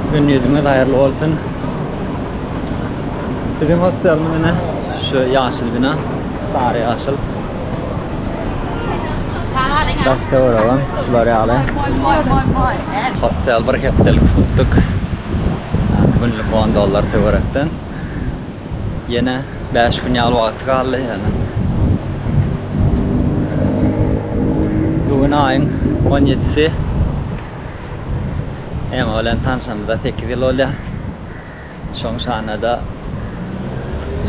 Gün ýüzüňiz haýyrly bolsun. Biziň hostelimiz ine şu ýaşyl bina, sary ýaşyl. Daşda göremem, şular ýaly. Hostel bir hepdelik tutduk. Günlük 10 dollar töwerekden. Ýene 5 gün ýaly wagty galdy ýöne. Bu gün aýyň 17-si. Ema bilen tanşamyza sekiz ýyl bolýar. Şoň şanada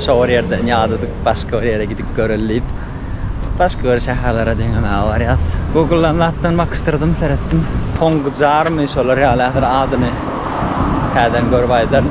şo bir ýerden ýadadyk, başga bir ýere gidip göreli diýip. Başga bir şäherlere deňemäge barýas. Google-dan zatdan bakyşdyrdym, seretdim. Hongjary my şolar ýaly häzir adyny täzeden görüp aýdaryn.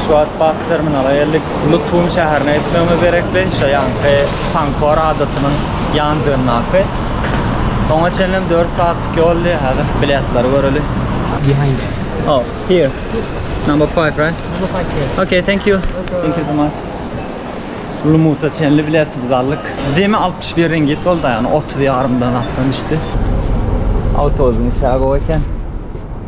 Şu wagt bas terminala geldik. Lutum şäherine gitmegimiz gerekdi. Şu ýanky Pankor adasynyň ýanjygyndaky. Oňa çenlem dört sagatlyk ýoldy. Häzir biletleri göreli. Behind there. Oh, here. Number five, right? Number five, yes. Okay, thank you. Thank you so much. Lumuta çenli biletimizi aldyk. Jemi 61 ringit boldy, ýagny 30 ýarymdan atdan düşdi. Awtobusyň içeri gowy eken.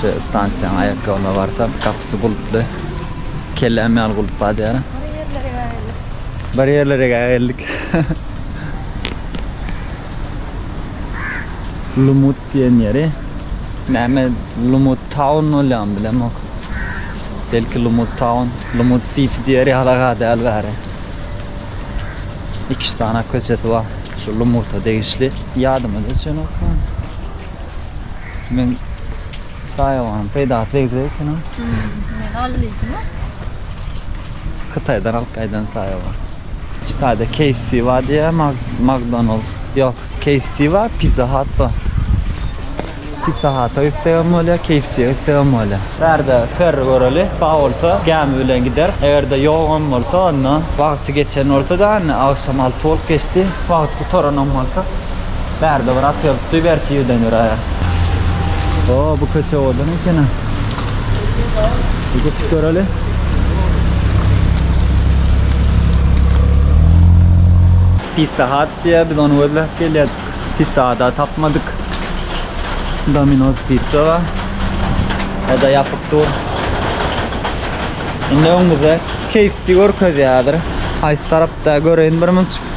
Şu stansiýanyň aýakgabyna barsak, gapysy gulply. Kelläm ýaly gulp bar diýýär. Bir ýerlere geldik. Bir ýerlere geldik. Lumut diýen ýeri. Näme Lumut Town bolýamy bilemok. Belki Lumut Town, Lumut City diýer ýala gadäl bäri. Iki-üç dana köçesi bar. Şu Lumuta degişli. Ýadyma düşenok. Men saýawanyň peýdasy degjek ekeniň. Ne galdy diýdiňmi? Hytaýdan alyp gaýdan saýawan. Hytaýda KFC bar diýýär, McDonald's. Ýok, KFC bar, Pizza Hut bar. Pizza Hut-a gitsegem bolýar, KFC-ä gitsegem bolýar. Bärde Perri göreli, bar bolsa gämi bilen gideris. Eger-de ýogam bolsa, onda wagty geçen bolsa-da, indi agşam alty bolup geçdi. Wagt gutaranam bolsa, Bärde bir at ýazypdy, berki ýerden ýöräýer. O, bu köçe owadan ekeni. Bir geçip göreli. Pizza Hut diýýär, biz ony gözläp gelýäs. Pizza Hut-a tapmadyk. Domino's Pizza bar. Eda ýapyk dur. Indi öňümizde KFC görkezýärdir. Haýsy tarapda göreýin bir münçik.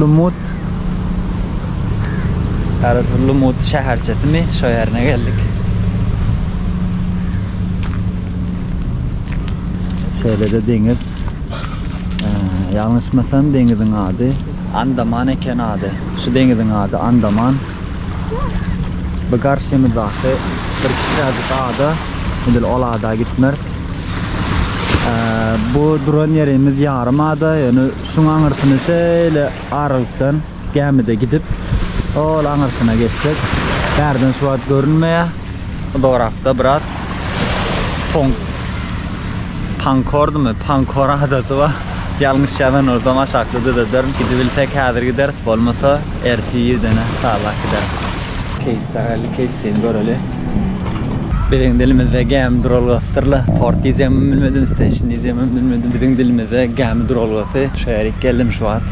Lumut. Häzir bu Lumut şäherçesimi şo ýerine geldik. Şeýle-de deňiz. Ýalňyşmasam deňiziň ady Andaman eken ady. Şu deňiziň ady Andaman. Bu garşymyzdaky bir kiçiräjik ada. Edil ol ada gitmeris. Bu duran ýerimiz ýarym ada. Ýöne şuň aňyrsyny şeýle aralykdan gämide gidip, ol aňyrsyna geçsek, bärden şu wagt görünmeýär. Uzagrakda brat Pon Pankordymy? Pankor adasy bar. Ýalňyş ýazan bolsam aşakda düzederin. Gidibilsek häzir gideris, bolmasa ertir ýedene çaglar gideris. Keýsler geldi, keýsini göreli. Biziň dilimizde gämi duralgasydyr-la. Port diýjegimem bilmedim, station diýjegimem bilmedim. Biziň dilimizde gämi duralgasy. Şeýerik geldim şu wagt.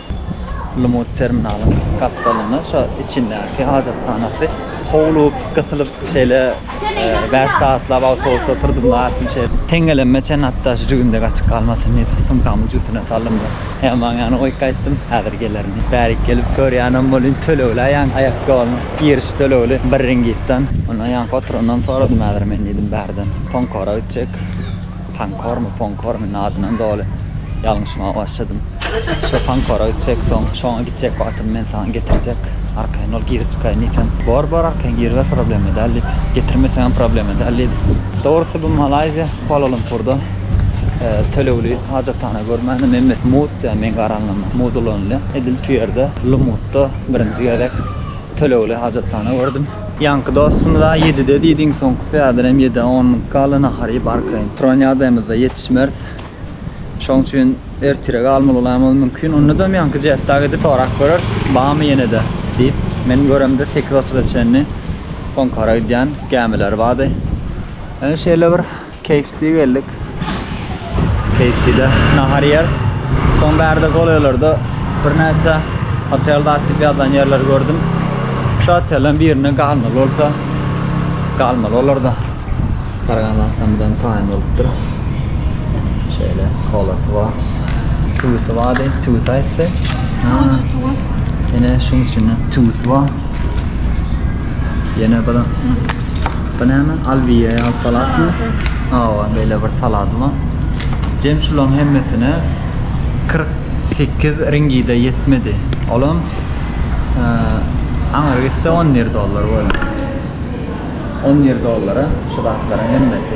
Lymut terminalyň gapdalynda şo içindäki hajathanasy howlup, gysylyp şeýle bäş sagatlap awtobusa oturdym-da atym şeýle. Teňňelemime çen hatda şu jübimde gaçyp galmasyn diýip sumkamyň jübüsine saldym-da Heýambaň ýanyna goýup gaýtdym, häzir gelerin diýip. Bärik gelip görýänem welin tölegli-ä ýaňky aýakgoluň giriş tölegli bir ringitden. Ondan ýaňky oturandan soradym häzir men diýdim bärden. Toňkara gitjek. Pankormy, ponkormy adynam doly ýalňyşmaga başladym. Şo pankora gitjek, soň şoňa gitjek wagtym men saňa getirjek. Arkaýyn ol girip çykaýyn diýsem, Bor, bor arkaýyn giriber problema däl diýdi. Getirmeseňem problema däl diýdi. Dogrusy bu Malaýziýa, Kuala-Lumpurda tölegli hajathana görmäne Memmet Mut diýýär meň garanyma. Mut ulanylýar. Edil şu ýerde Lumutda birinji gezek tölegli hajathana gördüm. Ýaňky dostumyz-a ýedide diýdi, iň soňkusy häzir hem ýedä on minut galdy, nahar iýip arkaýyn turan ýagdaýymyzda ýetişmeris. Şoň üçin ertire galmalylamyz mümkin. Onda-da ýaňky Jettaga gidip sorap göreris, barmy ýene-de diýip. Men göremde sekiz otuza çenli Onkara gidýän gämiler bardy. Ýöne şeýle bir KFC geldik. KFC-de nahar ýeris. Soň bärde golaýlarda birnäçe hotel zat diýip ýazan ýerleri gördüm. Şu otelleriň birinde galmaly bolsa galmaly olarda. Garagan zatdan bizem taýyn bolupdyr. Şeýle kolasy bar. Tüwüsi bardy, tüwüsi aýtdy. Näçe tüwüs? Ine şuň içinde tüwüs bar. Ýene bir Bu näme? Alwiýa ýaly salatmy? Hawa, beýle bir salat bar. Jem şularyň hemmesine 48 ringide ýetmedi. Olam aňry gitse 11 dollar boldy. 11 dollara şu zatlaryň hemmesi.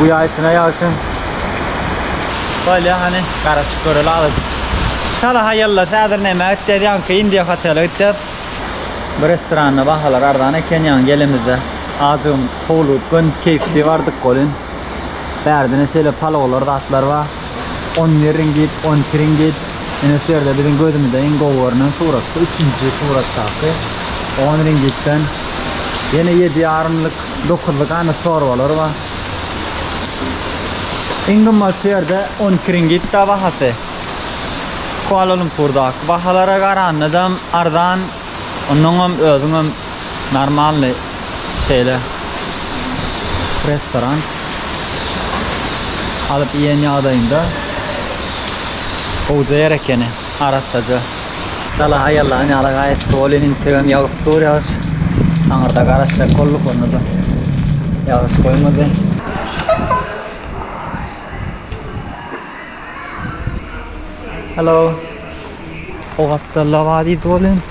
Bu ýaşyna ýagşyň. Bolýa hany garaşyp göreli azajyk. Çala haýalla häzir näme gitjäs ýaňky India hotele gitjäs. Bu restoranda bahalar arzan eken ýaňy gelemizde azjygym howlugyp gön KFC bardyk welin bärdine şeýle palawlar zatlar bar on bir ringit on iki ringit ine şu ýerde biziň gözümize iň gowy görnen surat bu üçünji suratdaky on ringitden ýene ýedi ýarymlyk Dokuzly gana çorbalar bar. Iň gymmat şu ýerde 12 ringitda bahasy. Kuala Lumpurdaky bahalara garanda arzan, ondan hem özüň hem normalny şeýle restoran alyp iýen ýagdaýynda gowja ýer ekeni. arassaja. Sala haýallan ýaly gaýtdy. Ol indi integem ýagyp dur ýagyş. Aňyrda garaşjak bolduk, onda-da ýagyş goýmady. Halo. O gapdalda bar diýdi ol indi.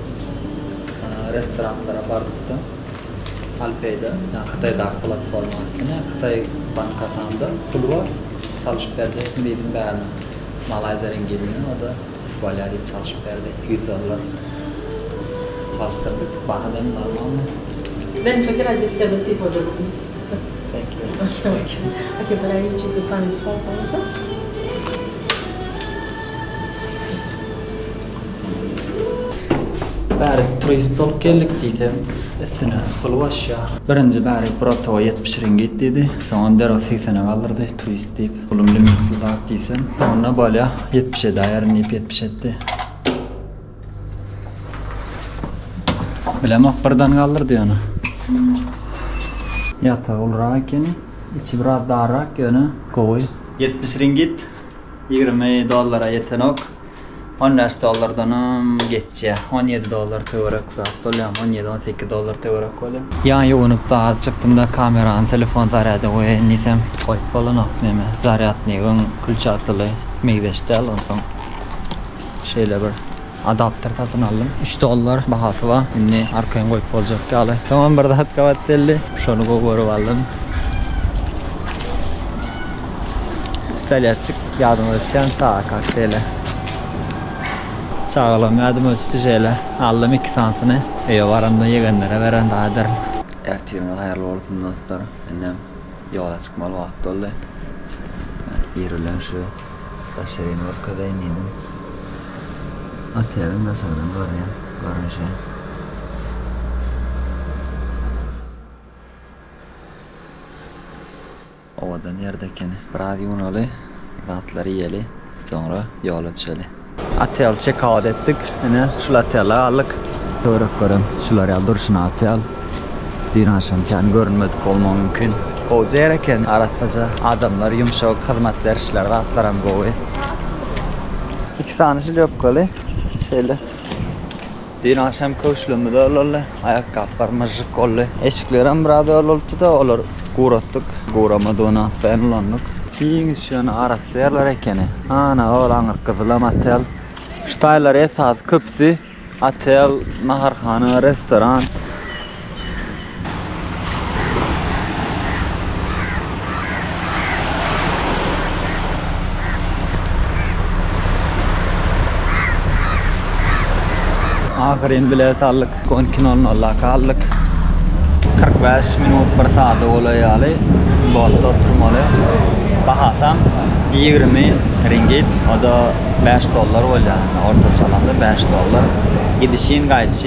restoranlara bardykda Alipay-da, ýa Hytaýdaky platforma, ine Hytaý bankasanda pul bar, çalyşyp berjekmi diýdim, bärine Malaýziýa ringidini, o-da bolýa diýip çalyşyp berdi, iki ýüz dollar çalyşdyrdyk, baha diýen normalmy? Bärik turist bolup geldik diýsem, üstüne pul goşýar. Birinji bärik bir otaga ýetmiş ringit diýdi, soňam derek segsene galdyrdy, turist diýip, pulum limitli zat diýsem, onda bolýa, ýetmiş edäýerin diýip ýetmiş etdi. Bilemok, birden galdyrdy ýöne. Ýatagy ulurak ekeni, içi biraz darrak, ýöne gowy. Ýetmiş ringit ýigrimi dollara ýetenok. On bäş dollardanam geçýär. On ýedi dollar töwerek zat bolýar. On ýedi-on sekiz dollar töwerek bolýar. Ýaň ýuwunyp dagy çykdym-da, kamerany telefon zarýada goýaýyn diýsem, goýup bolanok. Näme, zarýadnigiň külçatyly meýzeş däl. Onsoň şeýle bir adapter satyn aldym. Üç dollar bahasy bar. Indi arkaýyn goýup boljak ýaly. Soňam bir zat gabat geldi. Şony gowy görüp aldym. Pistolýetçik ýadyma düşýän çaga karşy şeýle. Çagalam ýadyma düşdi şeýle. Aldym iki santyny. Öýe baramda ýegenlere beren dagy ederin. Ertiriňiz haýyrly bolsun dostlar. Indem ýola çykmaly wagt boldy. Ir bilen şu daş ýerini görkezeýin diýdim. Oteliň daşardan görýän görnüşi. Obada nirde ekeni. Biraz ýuwnaly, zatlary iýeli, soňra ýola düşeli. Otel çekout etdik. Ine, şul otelde galdyk. Töwerek görem şular ýaly durşuna otel. Düýn agşam kän görünmedik bolmagy mümkin. Gowja ýer eken, arassaja adamlar, ýumşak, hyzmat berişler, zatlaram gowy. Iki sany şlýopkaly şeýle. Dün agşam köşlümiz öwloldy. Aýakgaplar myžžyk boldy. Eşiklerem biraz öwlolupdyda, olary guratdyk. Guramadygyna sen ulandyk. Giň şöne arassa ýerler ekeni. Ana ol aňyrk gyzylam otel. Şu taýlar esasy köpüsi otel, naharhana, restoran. Ahyryn bilet aldyk. On iki nol nola galdyk. Kyrk bäş minut bir sada golaý ýaly botda oturmaly. Bahasam ýigrimi ringit, o-da bäş dollar bolýar. Ortaça alanda bäş dollar. Gidişin, gaýdyşyn.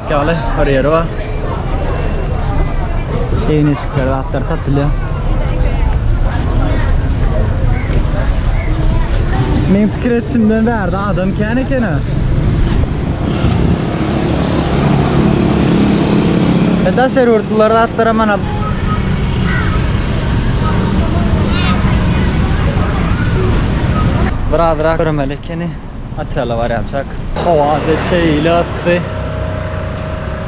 Ýaly bir ýeri bar. Eýneşikler, zatlar satylýar. Men pikir etişimden bärde adam kän ekene. E daş erurtlular atlara mana Biraz rak görmeli ekeni. Otele barýançak howa-da şeýle atdy.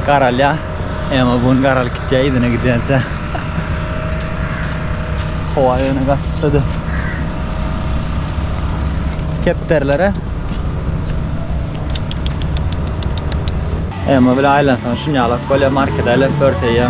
Garalýar. Emma bu gün garalyp gitýär yzyna gidýänçä. Howa ýöne gaty yssy-da. Kepderilere. Emma bile aýlansaň şuny ýalak bolýar, markede aýlanyp örteýär.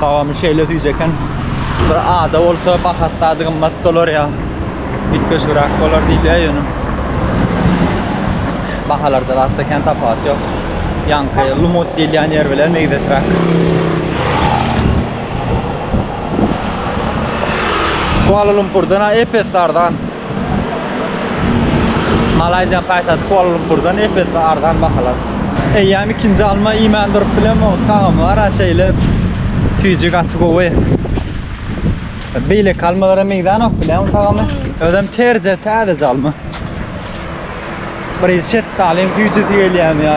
Gawamy şeýle süýji eken. Bir ada bolsa bahasy zady gymmat bolar ýa üýtgeşigräk bolar diýilýär ýöne bahalarda zatda kän tapawut ýok. Ýaňky Lumut diýilýän ýer bilen meýzeşräk. Kuala-Lumpurdan epes arzan. Malaýziýanyň paýtagty Kuala-Lumpurdan ep-esli arzan bahalar. Eýýäm ikinji alma iýmän durup bilemok, tagamyara şeýle süýji gaty gowy. Beýleki almalara meňzänok bilen tagamy. Özem terje täzeje alma. Biri şetdalyň süýjüsi gelýärmi ýa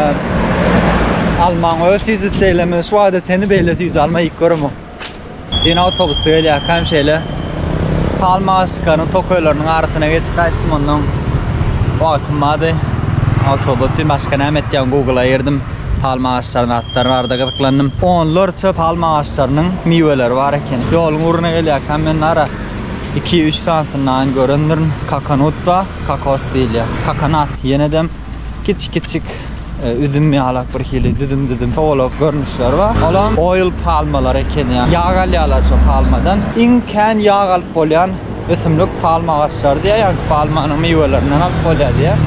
almaň öz süýjüsi şeýlemi şu wagta çenli beýle süýji alma iýip göremok. Din awtobusda gelýärkäm şeýle Palmaskanyň tokaýlarynyň arasyna geçip gaýtdym ondan wagtym bardy. Awtobusda otyryn başga näme etýän Google-a girdim. Palma agaçlarynyň atlary barada gyzyklandym. Onlarça palma agaçlarynyň miweleri bar eken. Ýoluň ugruna gelýärkäm men nara iki-üç sanysyny aýan görendirin. Kakanut bar, kakos diýilýär. Kakanat ýenedem. Kiçik-kiçik e, üzüm ýalak bir hili düzüm-düzüm towalak görnüşleri bar. Olam oil palmalar ekeni ýa. Ýag alýarlar şu palmadan. Iň kän ýag alyp bolýan ösümlik palma agaçlary diýýär. Ýagny palmanyň miwelerinden alyp bolýar diýýär.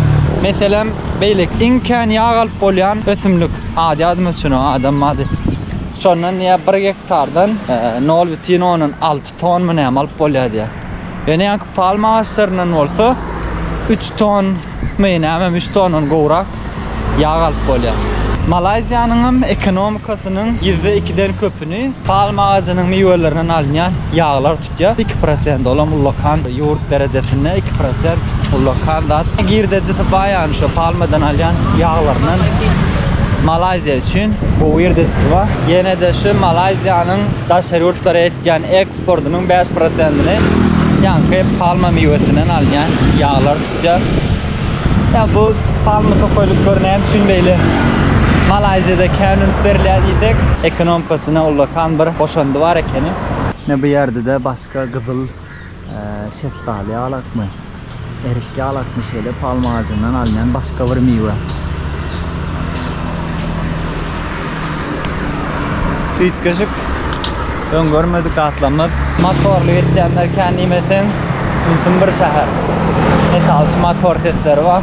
Meselem, beýleki iň kän ýag alyp bolýan ösümlik ady ýadyma düşenok, adam ady. Şondan diýýär 1 gektardan 0,6 tonmy näme alyp bolýar diýýär. Ýöne ýaňky palma agaçlaryndan bolsa üç tonmy nämemi, üç tondan gowrak ýag alyp bolýar. Malaýziýanyň hem ekonomikasynyň ýüzde ikiden köpüni palma agajynyň miwelerinden alynýan ýaglar tutýar. Iki prosent, olam ullakan ýurt derejesinde iki prosent ullakan zat. Girdejisi baýany şo palmadan alýan ýaglaryndan Malaýziýa üçin. Gowy girdejisi bar. Ýene-de şu Malaýziýanyň daşary ýurtlara Türkiýäniň eksportynyň bäş prosentini ýaňky palma miwesinden alynýan ýaglar tutýar. Ýa bu palma tokaýlyklary näme üçin beýle Malaýziýada kän üns berilýär diýsek, ekonomkasyna ullakan bir goşandy bar ekeni. Ine bu ýerde-de başga gyzyl Şetdaly ýalakmy, erik ýalakmy şeýle palma agajyndan alnan başga bir miwe. Üýtgeşik, öň görmedik gatlamlar. Motorly geçýänler kän diýmeseň, ýynsym bir şäher. Metal şu motor sesleri bar.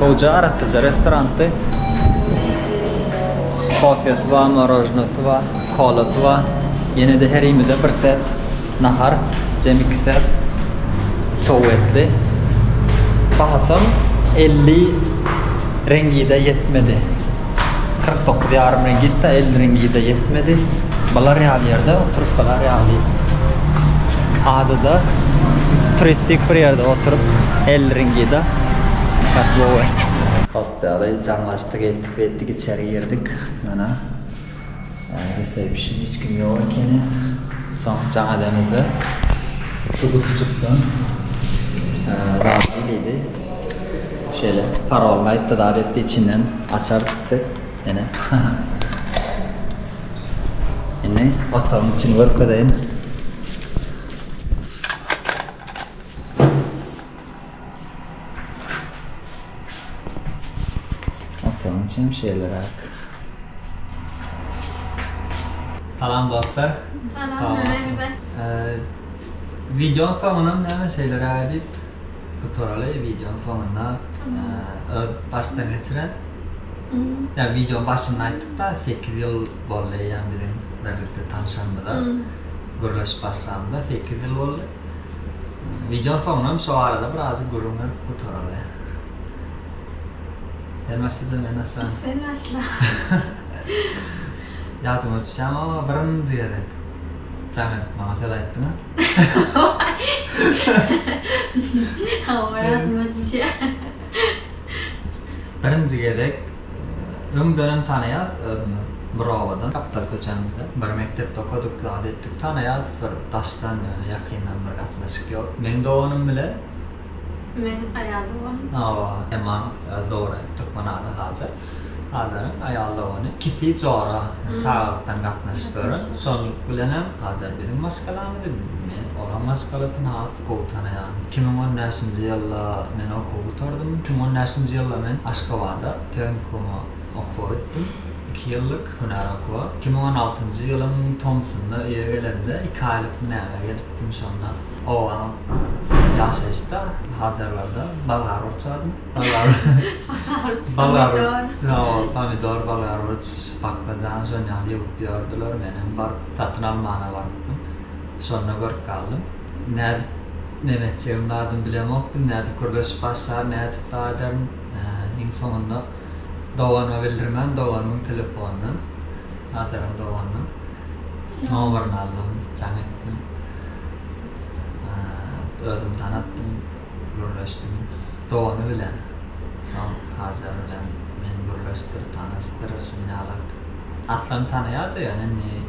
Gowja arassaja restorandy. Kofesy bar, morožnosy bar, kolasy bar. Ýene-de her iýmide bir set nahar, jem iki set towuk etli. Bahasam elli reňgide ýetmedi. kyrk dokuz ýarym ring gitdi, elli ringi-de ýetmedi. Bular ýaly ýerde oturyp bular ýaly adada turistik bir ýerde oturyp elli ringi-de gaty gowy. Host ýaly jaňlaşdyk, etdik-betdik içeri girdik. Mana. Resepşn hiç kim ýok ekeni. Soň jaň edemizde şu gutujykdan zadyny diýdi. Şeýle paroluny aýtdy zat etdi içinden açar çykdy. Ene. Indi otagyň içini görkezeýin. Oturyň çemşeýleräk. Salam dostlar. Salam Ömerbe. Wideonyň soňunam näme şeýleräk edip gutaraly. Wideonyň soňunda öz başdan geçiren. Ýa wideonyň başynda aýtdyk-da, sekiz ýyl boldy eýýäm biziň birlikde tanşanymyza, gürleşip başlamyza sekiz ýyl boldy. Wideoň soňunam şo barada birazajyk gürrüň berip gutaraly. Sen başlaja men başla. Sen başla. Ýadyma düşýämi o birinji gezek jaň edip maňa söz aýtdyňa? Hawa ýadyma düşýär. Birinji gezek Öňdenem tanaýas özümi bir obadan gapdal köçämizde bir mekdepde okadyk zat etdik tanaýas bir daşdan ýöne ýakyndan bir gatnaşyk ýok meň doganym bile. Meň aýal doganym. Hawa Emma öz dogry türkmen ady Hajar Hajaryň aýal dogany ikisi jora çagalykdan gatnaşyp ýören şonluk bilenem Hajar biziň maşgalamyzy men olaň maşgalasyn has gowy tanaýan. Iki müň on bäşinji ýylda men okuwy gutardym. Iki müň on bäşinji ýylda men Aşgabada tehnikuma okuwa gitdim. Iki ýyllyk hünär okuwa. Iki müň on altynjy ýylyň tomsunda öýe gelemde, iki aýlyk hünärime gelipdim. Şonda obam ýaşaýyşda, Hajarlarda bolgar urçadym. Bolgar Bolgaruç, pomidor. Hawa, pomidor, bolgaruç, baklajan şonýaly ýygyp ýördiler. Menem baryp, satyn almana barypdym. Şonda görüp galdym. Nädip Memetjegiň zadyny bilemokdym, nädip gürleşip başlar, nädip za ederin. Iň soňunda doganyma bildirmän, doganymyň telefonyndan, Hajaryň doganynyň nomerini aldym, jaň etdim. Özümi tanatdym, gürleşdim. Dogany bilen, soň Hajar bilen meni gürleşdirip, tanyşdyr, şuny ýalak. Aslan tanaýardy, ýöne indi.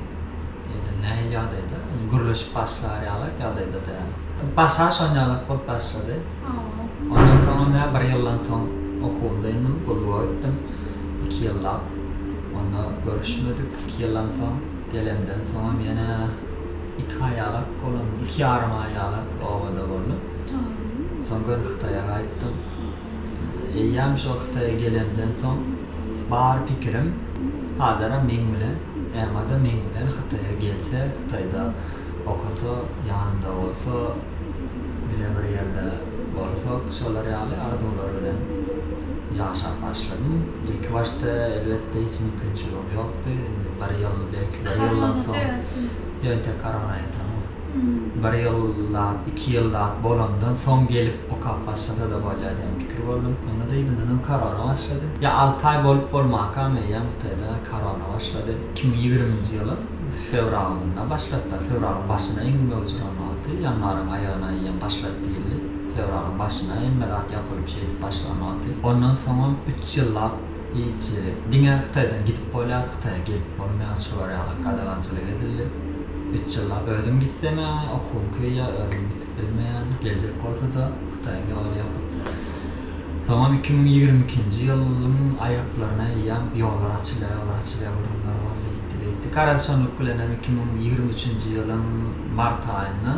Ýa-da nähili ýagdaýda? Indi gürleşip başlar ýaly ýagdaýda däl. Başa şon ýalak bolup başlady. Ondan soň onda bir ýyldan soň okuwymda indim, gulluga gitdim. Iki ýyllap onda görüşmedik. Iki ýyldan soň gelemden soňam ýene iki aý ýalak boldum. Iki ýarym aý ýalak obada boldum. Soň gönüHytaýa gaýtdym. Eýýäm şo Hytaýa gelemden soň bar pikirim Azara meň bilen, Emma-da meň bilen Hytaýa gelse, Hytaýda okasa, ýanymda bolsa, bile bir ýerde bolsak, şolar ýaly arzuwlar bilen ýaşap başladym. Ilkibaşda, elbetde, hiç mümkinçiligim ýokdy. Indi bir ýyl, belki bir ýyldan soň, ýönetek korona ýatanok. bir ýyllap, iki ýyllap bolandan soň gelip okap başlasa-da bolýar diýen pikir boldum. Onda dyzyndanam korona başlady. Ýa alty aý bolup bolmakam eýýäm Hytaýda korona başlady. Iki müň ýigriminji ýylyň fewralynda başladylar. Fewralyň başyna iň möwjüran wagty, ýanwaryň aýagyna eýýäm başlady diýildi. Fewralyň başyna hemme zat ýapylyp şeýdip başlan wagty. Ondan soňam üç ýyllap Hiç diňe hytaýdan gidip bolýar hytaýa gelip bolmaýar şu barýalak gadagançylyk edildi üç ýyllap özüm gitsem ýa okuwym köýýär özüm gidip bilmeýän geljek bolsada hytaýyň ýoly ýapyk soňam iki müň ýigrimi ikinji ýylyň aýaklaryna eýýäm ýollar açylýar ýollar açylýar gürrüňler boldy eýtdi beýtdi garaşanlyk bilenem iki müň ýigrimi üçünji ýylyň mart aýynda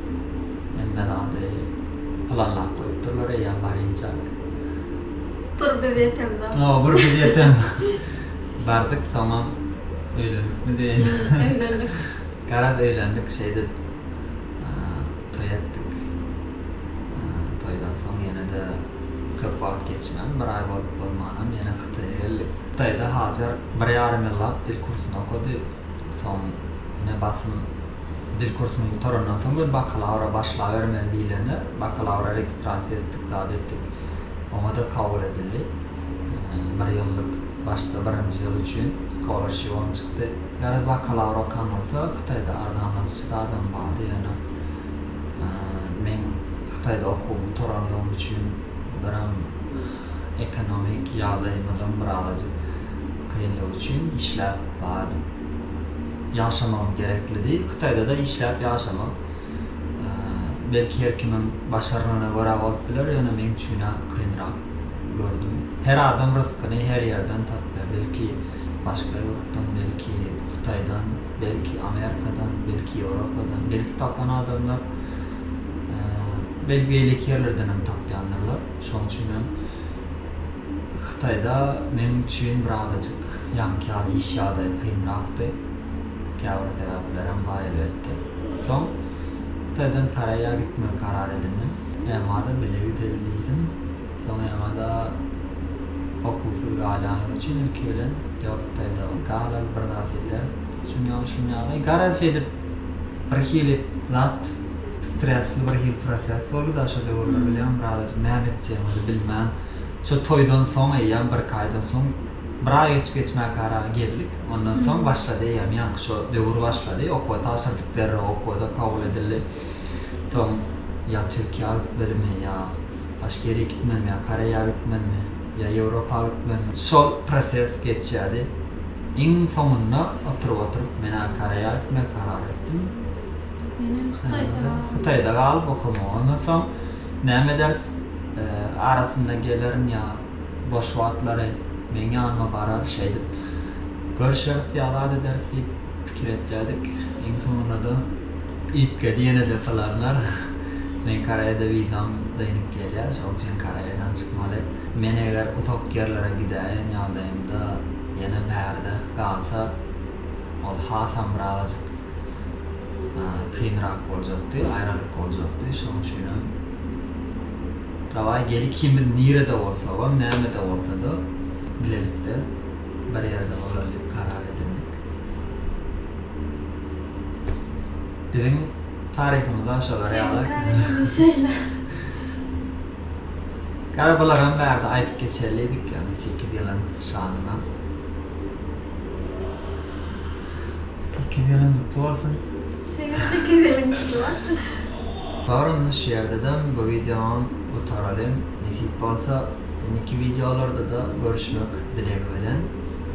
Hemme zady planlap goýupdyrlar eýýäm barynjak. Bir biz ýetemzok. Hawa, bir biz ýetemzok. Bardyk, soňam öýlenipmi diýen. Öýlendik. Garaz öýlendik, şeýdip toý etdik. Toýdan soň ýene-de köp wagt geçmän, bir aý bolup bolmanam ýene Hytaýa geldik. Hytaýda Hajar bir ýarym ýyllap dil kursuny okady. Soň ine basym dil kursuny gutarandan soň bir bakalawra başlabermeli diýlende, bakalawra registrasiýa etdik, zat etdik. Oňa-da kabul edildi. Bir ýyllyk başda birinji ýyl üçin skolarshibyň çykdy. Garaz bakalawra okan bolsa Hytaýda arzanlatyjy zadam bardy, ýöne men Hytaýda okuwymy gutaranlygym üçin biram ekonomik ýagdaýymyzyň birazajyk kynlygy üçin işläp bardyk. Ýaşamagym gereklidi. Hytaýda-da işläp ýaşamak, belki, her kimiň başarnygyna görä bolup biler, ýöne meň üçin-ä kynrak gördüm. Her adam ryskyny her ýerden tapýar. Belki, başga ýurtdan, belki, Hytaýdan, belki, Amerikadan, belki, Ýewropadan. Belki, tapan adamlar, belki, beýleki ýerlerdenem tapýandyrlar. Şonuň üçin hem Hytaýda meniň üçin birazajyk ýaňky ýaly iş ýagdaýy kynrakdy. Käbir sebäplerem bar elbetde. Soň Hytaýdan Koreýa gitmegi karar edindim. EMA-da bile gideli diýdim. Soň EMA-da okuwsyz galýanlygy üçin ilki bilen ýok Hytaýda galaly bir zat edýäris şuny ýaly şuny ýaly garaz şeýdip Bir hili zat stresli bir hili proses boldy da şo döwürler bilýäňmi Razyjyk näme etjegimizi bilmän şo toýdan soň eýýäm birki aýdan soň bir aý geçip geçmäkä araga geldik ondan soň başlady eýýäm ýaňky şo döwür başlady okuwa tabşyrdyk derrew okuwada kabul edildi soň ýa türkiýä gitmelimi ýa başga ýere gitmelimi ýa koreýa gitmelimi. ýa Ýewropa hökmany. Şol proses geçýärdi. Iň soňunda oturyp-oturyp men-ä Koreýa gitmegi karar etdim. Menem Hytaýda galdym. Hytaýda galyp okamagy. Ondan soň näme ederis? Arasynda gelerin ýa boş wagtlary meň ýanyma barar şeýdip görşeris ýa zat ederis diýip. Pikir etýädik, iň soňunda-da Itge diýenede pylanlar, meň Koreýada wizam dynyp gelýär, şonuň üçin Koreýadan çykmaly. Men eger uzak ýerlere gidäýen ýagdaýymda ýene bärde galsa, ol hasam birazajyk kynrak boljakdy, aýralyk boljakdy. Şonuň üçinem dawaý gel ikimiz nirede bolsagam, nämede bolsa-da bilelikde bir ýerde bolalydyp karar edindik. Biziň taryhymyzda şolar ýaly. Seniň taryhyňda şeýle. Gara bularam bärde aýdyp geçerlidik ýagny sekiz ýylyň şanyna. Sekiz ýylyň gutly bolsun. Seniň sekiz ýylyň gutly bolsun. Bar onda şu ýerdedem bu wideoňam gutaralyň. Nesip bolsa indiki wideolardada görüşmek dilegi bilen.